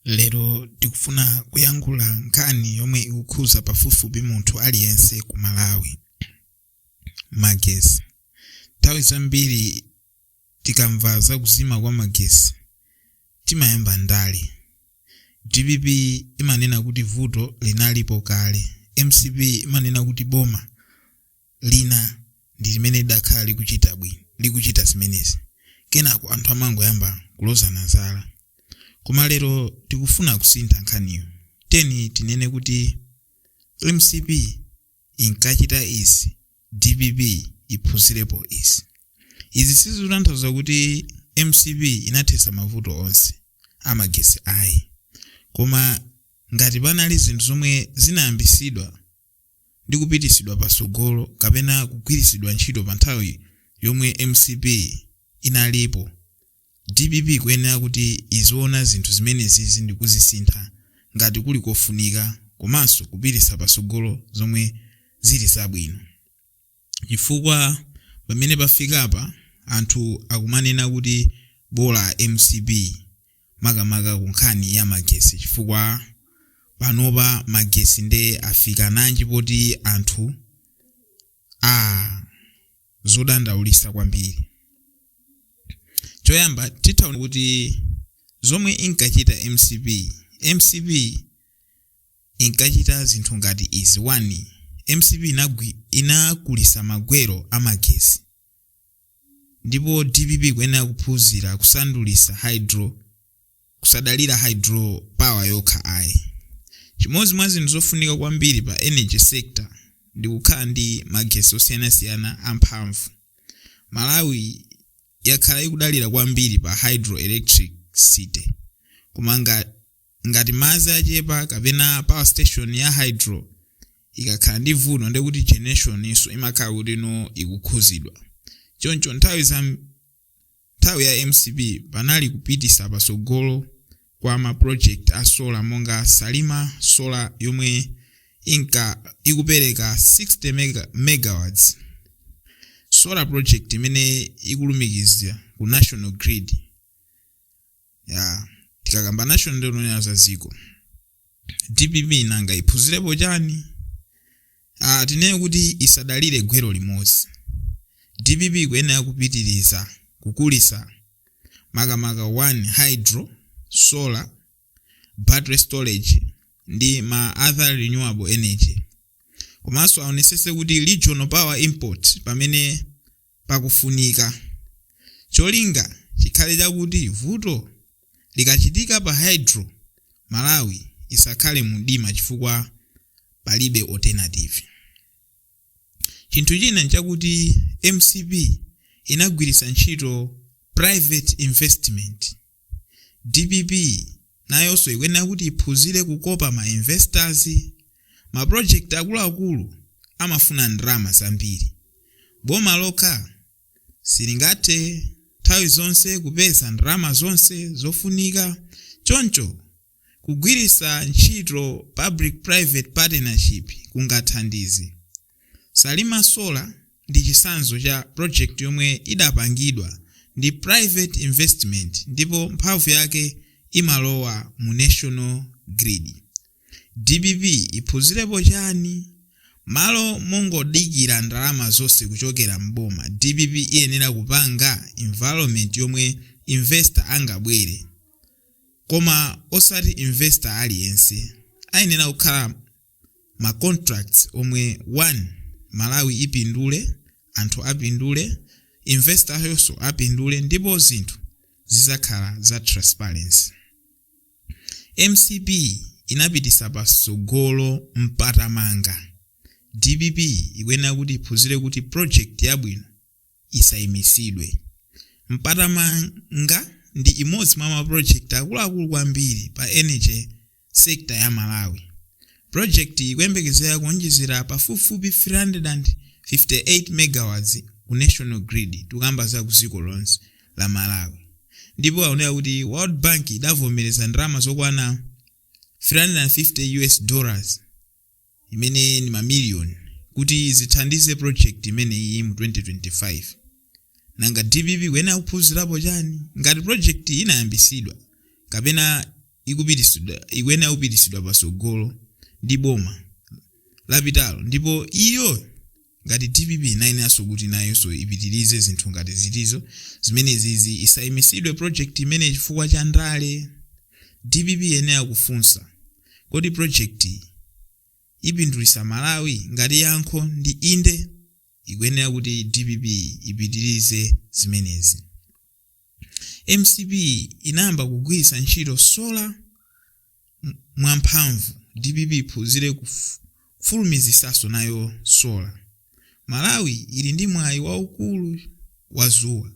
Lero tikufuna kuyankhula nkhani yomwe ikukhuza pafupifupi munthu aliyense ku Malawi. Magesi. Nthawi zambiri tikamva za kuzima kwa magesi timayamba ndale. Dpp imanena kuti vuto linalipo kale. Mcp imanena kuti boma lina ndi limene lidakhala likuchita bwi likuchita zimenezi kenako anthu amangoyamba kulozana zala koma lero tikufuna kusintha nkhaniyo teni tinene kuti mcp inkachita izi dpp iphunzirepo izi izi sizikutanthauza kuti mcp inathetsa mavuto onse amagesi ayi koma ngati panali zinthu zomwe zinayambisidwa ndi kupitisidwa pasogolo kapena kugwirisidwa ntchito pa nthawi yomwe mcp inalipo dpp ikuyenera kuti iziona zinthu zimenezizi ndikuzisintha ngati kuli kofunika komanso kupitisa pasogolo zomwe zili zabwino. chifukwa pamene pafikapa anthu akumanena kuti bola mcp makamaka kunkhani ya magesi chifukwa panopa magesi nde afika nanji poti anthu aah zodandaulisa kwambiri choyamba titha kuti zomwe inkachita mcp mcp inkachita zinthu ngati izi 1 mcp inagwi, inakulisa magwero amagesi ndipo dpp ikuyenera kuphunzira kusandulisa hydro kusadalira hydro power yokha ayi chimodzi mwa zinthu zofunika kwambiri pa energy sector ndi kukhala ndi magesi osiyanasiyana amphamvu malawi yakhala ikudalira kwambiri pa hydro electricity koma ngati madzi achepa kapena power station ya hydro ikakhala ndi vuto ndiye kuti generation nso imakhala kuti no ikukhuzidwa choncho nthawi za nthawi ya mcp panali kupitisa patsogolo kwa ma project a solar monga salima solar yomwe inka ikupereka 60 mega, megawatts solar project imene ikulumikiza ku national grid ya tikakamba national nde tikunena za ziko dpp nanga iphunzirepo chani ah, tinene kuti isadalire gwero limodzi dpp ikuyenera kupitiriza kukulisa makamaka 1 hydro solar battery storage ndi ma other renewable energy komanso aonesese kuti regional power import pamene pakufunika. Cholinga chikhale chakuti vuto likachitika pa hydro Malawi isakhale mumdima chifukwa palibe alternative. Chinthu china nchakuti mcp inagwiritsa ntchito private investment. Dpp nayonso ikuyenera kuti iphunzire kukopa ma investors. Ma project akuluakulu amafuna ndalama zambiri. Boma lokha silingathe nthawi zonse kupeza ndalama zonse zofunika. Choncho Kugwiritsa ntchito public private partnership kungathandize. Salima Solar ndi chitsanzo cha project yomwe idapangidwa ndi private investment ndipo mphamvu yake imalowa mu national grid. Dpp iphunzirepo chani? Malo mongodikira ndalama zonse kuchokera m'boma, dpp iyenera kupanga environment yomwe investor angabwere. Koma osati investor aliyense. Ayenera kukhala ma contracts omwe one Malawi ipindule, anthu apindule, investor-yonso apindule ndipo zinthu zizakhala za transparency. Mcp inapitisa patsogolo mpatamanga. Dpp ikuyenera kuti iphunzire kuti project yabwino. isaimitsidwe. Mpatamanga ndi imodzi mwa maprojekiti akuluakulu kwambiri pa energy sector ya Malawi. Projekitiyi ikuyembekezera kuonjezera pafupifupi 358 megawatts ku national grid, tikukamba za kudziko lonse la Malawi, ndipo aoneka kuti World Bank idavomereza ndalama zokwana 350 US dollars, imene ni ma million kuti zithandize project imeneyi mu 2025 nanga dpp ikuyenera kuphunzirapo chani ngati project inayambisidwa kapena ikupitisidwa ikuyenera kupitisidwa pasogolo ndi boma lapitalo ndipo iyo Ngati dpp inayeneranso kuti nayonso ipitilize zinthu ngati zitizo zimenezizi isayimisidwe project imeneyi chifukwa cha ndale. Dpp iyenera kufunsa kodi project yi ipindulisa Malawi? Ngati yankho ndi inde ikuyenera kuti dpp ipitilize zimenezi. mcp inayamba kugwiritsa ntchito solar mwamphamvu dpp iphunzire kufulumizitsanso nayo solar malawi ili ndi mwayi waukulu wa zuwa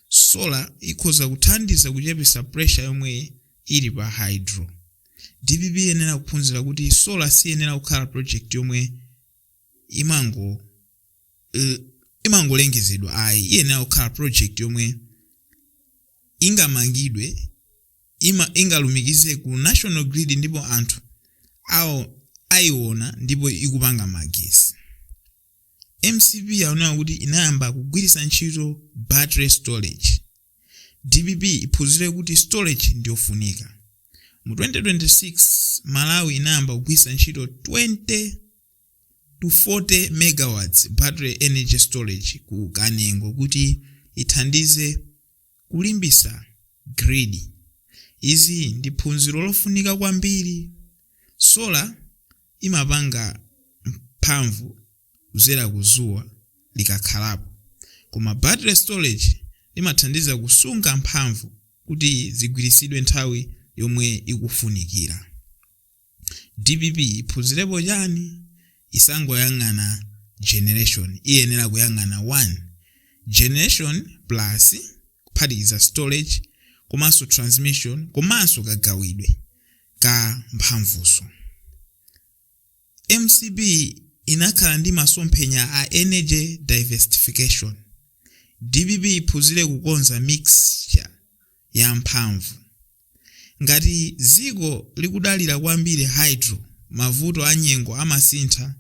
solar ikhoza kuthandiza kuchepesa pressure yomwe ili pa hydro dpp iyenera kuphunzira kuti solar siyenera kukhala project yomwe imango imangolengezedwa ayi iyenera kukhala project yomwe ingamangidwe ingalumikize ku national grid ndipo anthu ayiona ndipo ikupanga magesi mcp yaonera kuti inayamba kugwiritsa ntchito battery storage dpp iphunzire kuti storage ndiyofunika mu 2026 malawi inayamba kugwiritsa ntchito 20 to 40 megawatts battery energy storage ku kanengo kuti ithandize kulimbisa grid izi ndi phunziro lofunika kwambiri sola imapanga mphamvu kuzera ku zuwa likakhalapo koma battery storage imathandiza kusunga mphamvu kuti zigwiritsidwe nthawi yomwe ikufunikira Dpp iphunzirepo chani? Isangoyang'ana generation, iyenera kuyang'ana 1. Generation plus kuphatikiza storage komanso transmission komanso kagawidwe ka mphamvuso. Mcp inakhala ndi masomphenya a energy diversification. Dpp iphunzire kukonza mixture. ya mphamvu. Ngati dziko likudalira kwambiri hydro, mavuto a nyengo amasintha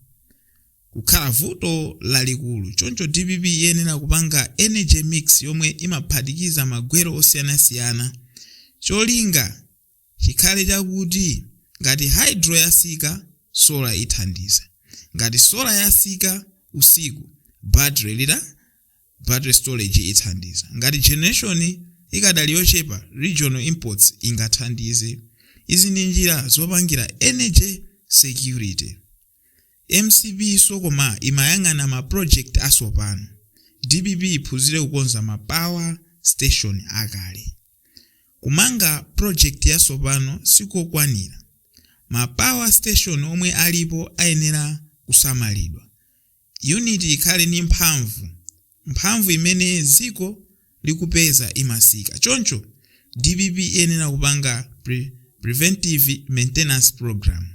kukhala vuto lalikulu. Choncho dpp iyenera kupanga energy mix yomwe imaphatikiza magwero osiyanasiyana. Cholinga. chikhale chakuti ngati hydro yasika solar ithandiza ngati solar yasika usiku battery lita battery storage ithandiza ngati generation ikadali yochepa regional imports ingathandize izi ndi njira zopangira energy security Mcp so koma imayang'ana ma project asopano. Dpp iphunzire kukonza ma power station akale. Kumanga project yasopano sikokwanira. Ma power station omwe alipo ayenera kusamalidwa. Unit ikhale ni mphamvu. mphamvu imene dziko likupeza imasika choncho dpp iyenera kupanga preventive maintenance program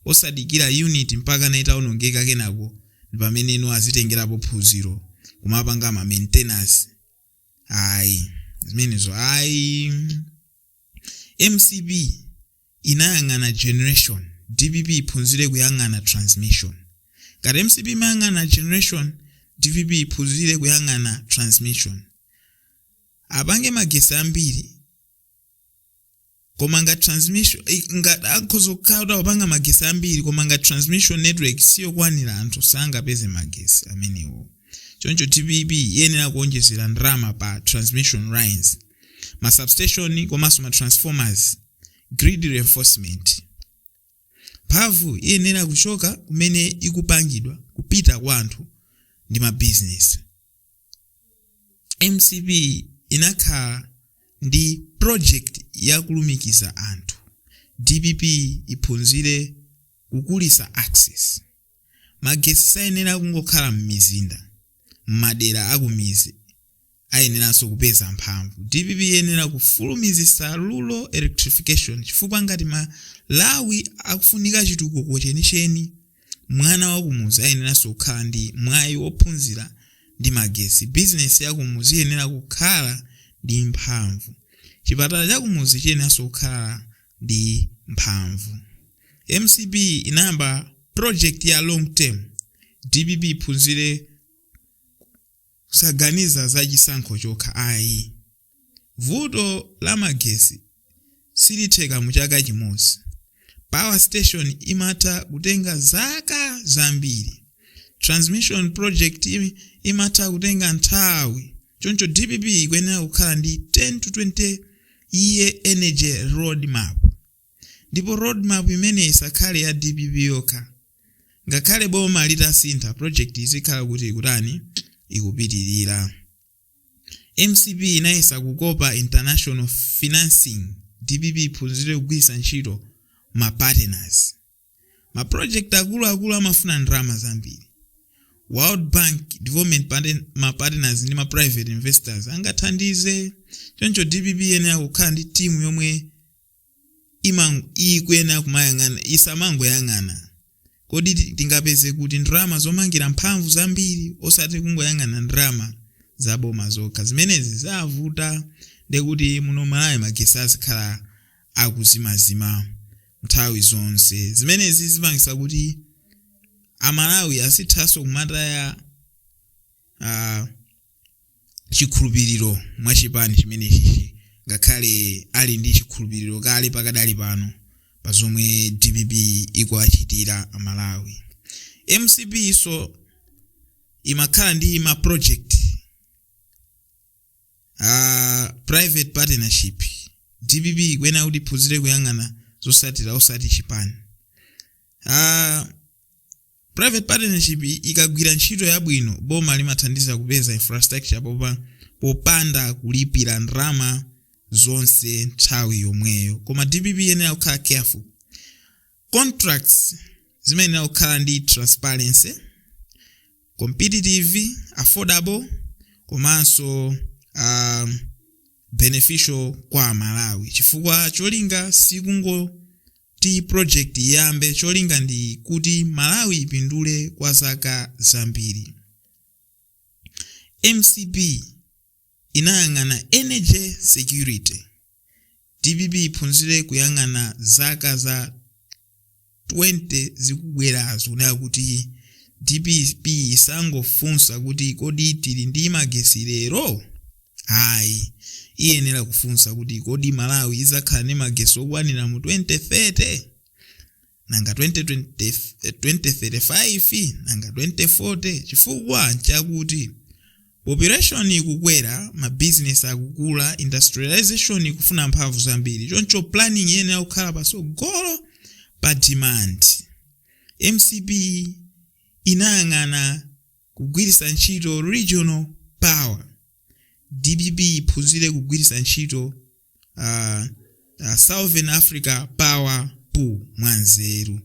osadikira unit mpakana itaonongeka kenako pameneno azitengerapo phunziro kumapanga ma maintenance ayi zimenezo ayi mcp inayang'ana generation dpp iphunzire kuyang'ana transmission ngati mcp imayang'ana generation dpp iphunzire kuyang'ana transmission apange magesi ambiri koma ngati transmission eh, ngati akhoza kukhala kuti akupanga magesi ambiri koma ngati transmission network siyo kwanira anthu sangapeze magesi amenewo choncho dpp iyenera kuonjezera ndalama pa transmission lines ma substation komanso ma transformers grid reinforcement mphamvu iyenera kuchoka kumene ikupangidwa kupita kwa anthu ndi ma business mcp inakhala ndi project ya kulumikiza anthu dpp iphunzire kukulisa access magesi sayenera kungokhala m'mizinda m'madera akumizi ayeneranso kupeza mphamvu. Dpp iyenera kufulumizitsa rural electrification chifukwa ngati Malawi akufunika chitukuko chenicheni, mwana wakumudzi ayeneranso kukhala ndi mwayi wophunzira ndi magesi, bizinesi yakumudzi iyenera kukhala ndi mphamvu, chipatala chakumudzi chiyeneranso kukhala ndi mphamvu. Mcp inayamba project ya long term, dpp iphunzire. Kusaganiza za chisankho chokha ayi. Vuto la magesi silitheka mu chaka chimodzi. Power station imatha kutenga zaka zambiri. Transmission project imatha kutenga nthawi. Choncho dpp ikuyenera kukhala ndi 10 to 20 year energy roadmap. Ndipo roadmap imeneyi isakhale ya dpp yokha. Ngakhale boma litasintha project izikhala kuti ikutani? Ikupitirira. Mcp inayesa kukopa international financing. Dpp iphunzire kugwiritsa ntchito ma partners. ma project akuluakulu amafuna ndalama zambiri world bank development Partner- ma partners ndi ma private investors angathandize choncho dpp iyenera kukhala ndi timu yomwe imang- ikuyenera kumayang'ana isamangoyang'ana kodi ti- tingapeze kuti ndalama zomangira mphamvu zambiri osati kungoyang'ana ndalama zaboma zokha zimenezi zavuta ndekuti muno malawi magesi azikhala akuzimazima nthawi zonse zimenezi zipangisa kuti amalawi azithaso kumataya uh, chikhulupiriro mwa chipani chimenechichi ngakhale ali ndi chikhulupiriro kale pakadali pano pa zomwe dpp ikuwachitira amalawi mcpso imakhala ndi ma project uh, private partnership dpp ikuyenera kuti iphunzire kuyang'ana zotsatira osati chipani uh, private partnership ikagwira ntchito yabwino boma limathandiza kupeza infrastructure popa, popanda kulipira ndalama zonse nthawi yomweyo koma dpp iyenera kukhala careful contracts ziyenera kukhala ndi transparency competitive affordable komanso um, beneficial kwa amalawi chifukwa cholinga sikungoti project iyambe cholinga ndi kuti malawi ipindule kwa zaka zambiri mcp inayang'ana energy security, dpp iphunzire kuyang'ana zaka za 20 zikubwerazo kunena kuti dpp isangofunsa kuti kodi tili ndi magesi lero? Ayi, iyenera kufunsa kuti kodi Malawi idzakhala ndi magesi okwanira mu 2030? Nanga 2035? Nanga 2040? Chifukwa chakuti population ikukwera, ma business akukula, industrialisation ikufuna mphamvu zambiri, choncho planning iyenera kukhala patsogolo pa demand. Mcp inayang'ana kugwiritsa ntchito regional power, dpp iphunzire kugwiritsa ntchito uh, uh, southern africa power pool mwanzeru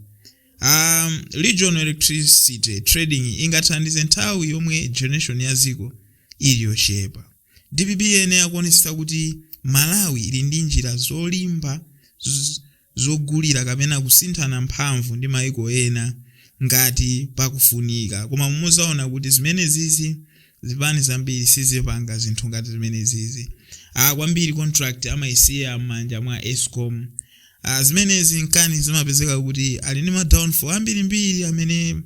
um, regional electricity trading ingathandize nthawi yomwe generation ya dziko ili yochepa dpp iyenera kuonetsetsa kuti malawi ili ndi njira zolimba z- zogulira kapena kusinthana mphamvu ndi maiko ena ngati pakufunika. Koma muzaona kuti zimenezizi zipani zambiri sizipanga zinthu ngati zimenezizi. Kwambiri contract amaisiya mmanja mwa escom. Zimenezi nkani zimapezeka kuti ali ndi ma downfall ambirimbiri amene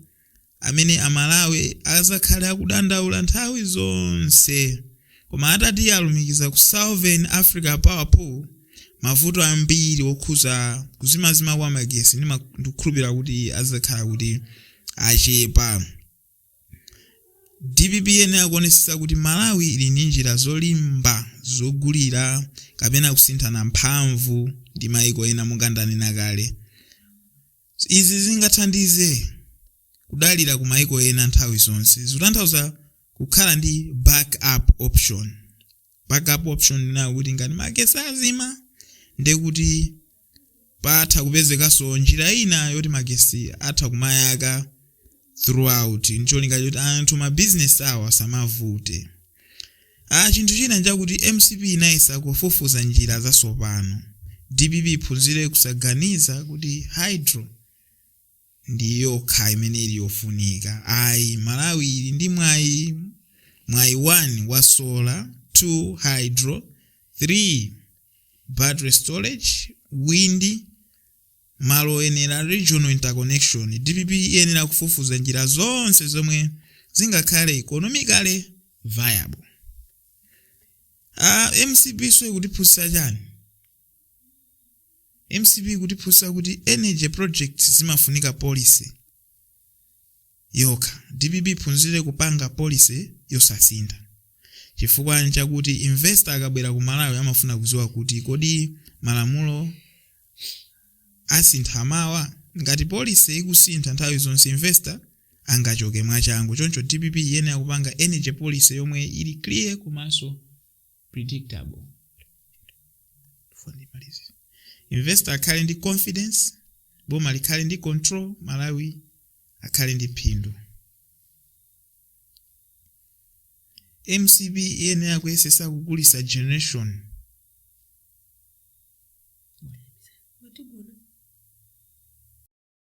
amene amalawi azakhala akudandaula nthawi zonse koma atati alumikiza ku southern africa power pool mavuto ambiri okhuza kuzimazima kwa magesi ndikukhulupirira kuti azakhala kuti achepa dpp iyenera kuonesesa kuti malawi ili ndi njira zolimba zogulira kapena kusinthana mphamvu ndi maiko ena monga ndanena kale Izi zingathandize kudalira ku maiko ena nthawi zonse. Zikutanthauza kukhala ndi back up option. Back up option ndinayo kuti ngati magetsi azima ndekuti patha kupezekanso njira ina yoti magetsi atha kumayaka throughout ncholinga choti anthu ma business awo asamavute chinthu china nchakuti mcp inayesa kufufuza njira zasopano dpp iphunzire kusaganiza kuti hydro ndi yokha imene ili yofunika ayi malawi ili ndi mwayi 1 wa solar 2 hydro 3 battery storage wind Malo oyenera, Regional Interconnection, dpp iyenera kufufuza njira zonse zomwe zingakhale economically viable. mcp so ikutiphunzitsa chani? mcp ikutiphunzitsa kuti energy projects zimafunika policy. yokha. Dpp iphunzire kupanga policy yosasintha. Chifukwa nchakuti investor akabwera ku Malawi amafuna kudziwa kuti kodi malamulo asintha mawa? Ngati policy ikusintha nthawi zonse investor angachoke mwachangu. Choncho dpp iyenera kupanga energy policy yomwe ili clear komanso. predictable investor akhale ndi confidence boma likhale ndi control malawi akhale ndi phindu mcp iyenera kuyesesa kukulitsa generation